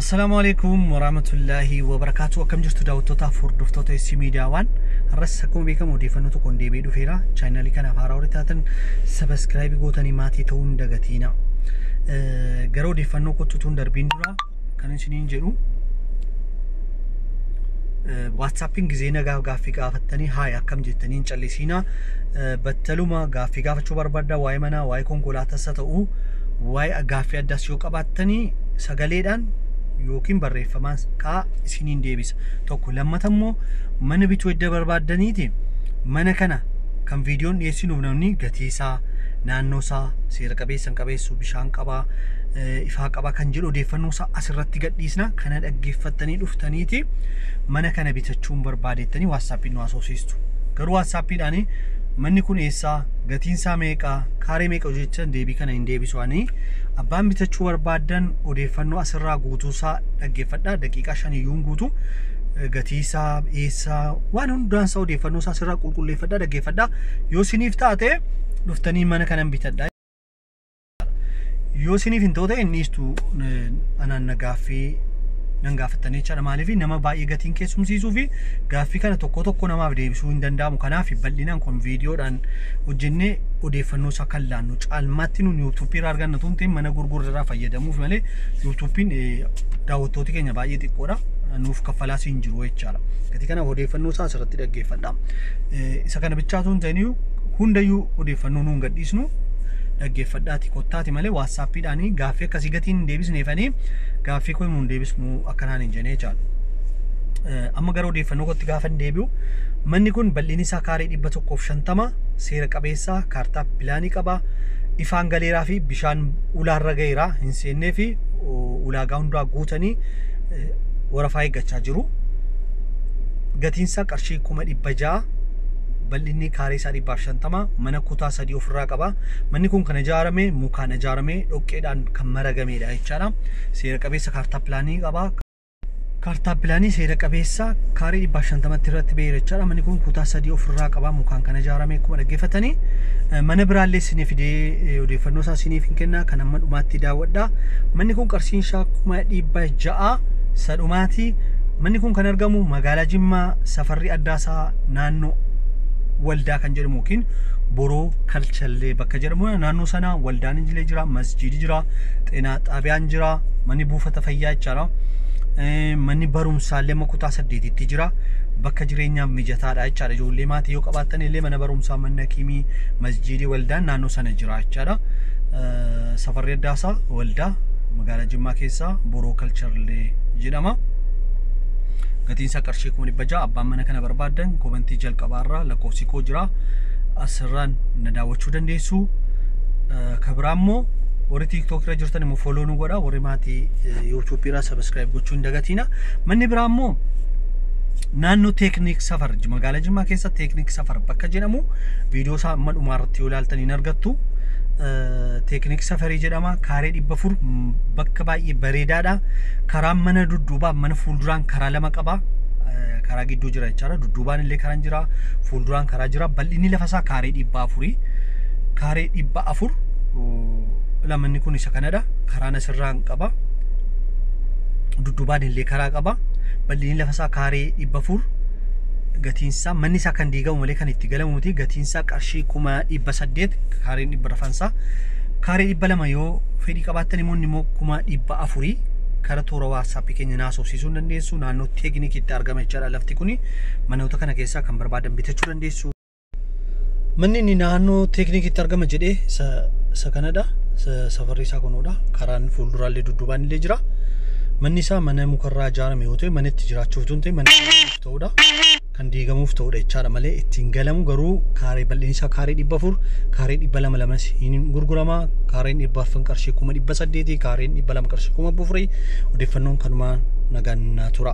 Assalaamu alaikum warahmatullaahi wabarakaatu akkam jirtu daawwattootaaf hordoftoota SC Miidiyaa waan har'as akkuma beekamu odeeffannoo tokkoon deebi'ee dhufeera chaayinaalii kanaaf haaraa warri taatan sabaskiraayibii gootanii maatii ta'uu hin dagatiina Eh, gara odeeffannoo kottutuun darbiin dura kan isiniin jedhu Eh, waatsaappiin gizee nagaa gaaffii gaafattanii haay akkam jettanii hin callisiina Eh, battaluma gaaffii gaafachuu barbaadda waa'ee manaa waa'ee konkolaataas haa ta'u waa'ee gaaffii addaas yoo qabaattanii sagaleedhaan yookiin barreeffamaan kaa isiniin deebisa tokko lammata immoo mana bituu edda barbaaddaniiti mana kana kan viidiyoon dhiyeessinuuf namni gatii isaa naannoo isaa seera qabeessan qabeessu bishaan qabaa ifaa qabaa kan jedhu odeeffannoo isaa asirratti gadhiisna kana dhaggeeffattanii dhuftaniiti mana kana bitachuun barbaadettanii waassaappiin nu haasofsiistu garuu waassaappiidhaan manni kun eessaa Gatiinsaa meeqa? Kaaree meeqa jettan deebii kana hin deebisu ani. Abbaan bitachuu barbaaddan odeeffannoo asirraa guutuusaa dhaggeeffadha. Daqiiqaa shaniyyuun guutu. Gatiisaa, eessaa, waan hundaansaa odeeffannoo isaa asirraa qulqulleeffadha dhaggeeffadha. Yoo siniif taate dhuftanii mana kanan bitadha. Yoo isiniif hin ta'u ta'e inni istuu anaan na gaaffii nan gaafattanii jechaadha. Maaliif nama baay'ee gatiin keessumsiisuu fi gaaffii kana tokko tokko namaaf deebisuu hin danda'amu. Kanaaf bal'inaan kun viidiyoodhaan hojjennee odeeffannoo isaa kan laannu caalmaatti nuun yuutuuppii irraa arganna tun ta'in mana gurgurra irraa fayyadamuuf malee yuutuuppiin daawwattooti keenya baay'ee xiqqoodha. Nuuf kaffalaas hin jiru jechaadha. Gatii kanaaf odeeffannoo isaa asirratti dhaggeeffadha. Isa kana bichaatu hin ta'in hundayyuu odeeffannoo nuun gadhiisnu dhaggeeffadhaati kottaati malee waatsaappiidhaanii gaaffii akkasii gatiin hin deebisneefanii gaaffii koo himuun deebisnu akkanaan hin jenee jaal. Amma gara odeeffannoo kootti gaafa hin deebi'u manni kun bal'inni isaa kaarii dhibba tokkoof shantama seera qabeessaa kaartaa pilaanii qaba ifaan galeeraa fi bishaan ulaarra gaheeraa hin seennee fi ulaagaa hundaa guutanii warafaa eeggachaa jiru. Gatiinsaa qarshii kuma dhibba ja'a bal'inni kaarii isaa dhibbaaf shantama mana kutaa sadii ofirraa qaba. Manni kun kan ijaarame mukaan ijaarame dhoqqeedhaan kan maragameedha jechaadha. Seera qabeessa kaartaa pilaanii qaba. Kaartaa pilaanii seera qabeessa kaarii dhibbaa shantamatti irratti ba'eera jechaadha. Manni kun kutaa sadii ofirraa qaba mukaan kan ijaarame akkuma dhaggeeffatanii. Mana biraallee isinii fidee odeeffannoo isaa isiniif hin kenna kan amma dhumaatti daawwadha. Manni kun qarshiin isaa kuma dhibba ja'a sadhumaati. Manni kun kan argamu magaalaa Jimmaa safarri addaa isaa naannoo waldaa kan jedhamu yookiin Boroo Kalchallee bakka jedhamu naannoo sana waldaan illee jira, masjiidi jira, xeenaa xaabiyaan jira, manni buufata fayyaa jechaadha. Eh, Manni barumsaa illee amma kutaa saddeetitti jira. Bakka jireenyaaf mijataadha jechaadha. Ijoollee maatii yoo qabaattan illee mana barumsaa, manni hakiimii, masjiidi, waldaan naannoo sana jira jechaadha. Eh, Safarri Addaasaa waldaa magaalaa Jimmaa keessaa Boroo Kalchallee jedhama. Gatiin isaa qarshii kuma dhibba ja'a. Abbaan mana kana barbaaddan kobantii jalqabaarraa lakkoofsi koo jira. jira. Asirraan na daawwachuu dandeessu. Eh, Ka biraa immoo warri TikTok irra jirtan immoo follow nu godha. Warri maatii eh, YouTube irraa subscribe gochuu hin dagatiina. Manni biraa immoo naannoo teekniik safar Ji- magaalaa jimmaa keessa teekniik safar bakka jedhamu viidiyoo isaa amma dhumaa irratti yoo ilaaltan hin argattu Eh, teekniik safarii jedhama kaaree dhibba afur m- bakka baay'ee bareedaadha karaan mana dudduubaa mana fuulduraan karaa lama qaba karaa gidduu jira jechaadha. Dudduubaan illee karaan jira. Fuulduraan karaa jira. Bal'inni lafa isaa kaaree dhibba afurii. Kaaree dhibba afur lamanni kun isa kanadha. Karaan asirraa hin qaba. Dudduubaan illee karaa qaba. Bal'inni lafa isaa kaaree dhibba afur. Gatiin isaa manni isaa kan diigamu malee kan itti galamu miti. Gatiin isaa qarshii kuma dhibba saddeet kaareen dhibba rafan isaa. Kaaree dhibba lama yoo fedhii qabaattan immoo inni immoo kuma dhibba afurii kara toora waatsaappii keenya naasofsiisuu hin dandeessu. dandeessu naannoo teeknikiitti argama jechaadha lafti kuni manoota kana keessaa kan barbaadan bitachuu dandeessu. Manni inni naannoo teeknikiitti argama jedhee isa isa kanadha. Isa- Safarri isaa kunuudha. Karaan fuulduraallee dudduubaan illee jira. Manni isaa mana mukarraa ijaarame yoo ta'e mana itti jiraachuuf tun ta'e mana itti ta'uudha. kan diigamuuf ta'udha jechaadha malee ittiin galamu garuu kaaree bal'inni isaa kaaree dhibba afur kaaree dhibba lama lamas hin gurgurama kaareen dhibba arfan qarshii kuma dhibba saddeeti kaareen dhibba lama qarshii kuma bufurii odeeffannoon kanumaa nagaan naa tura.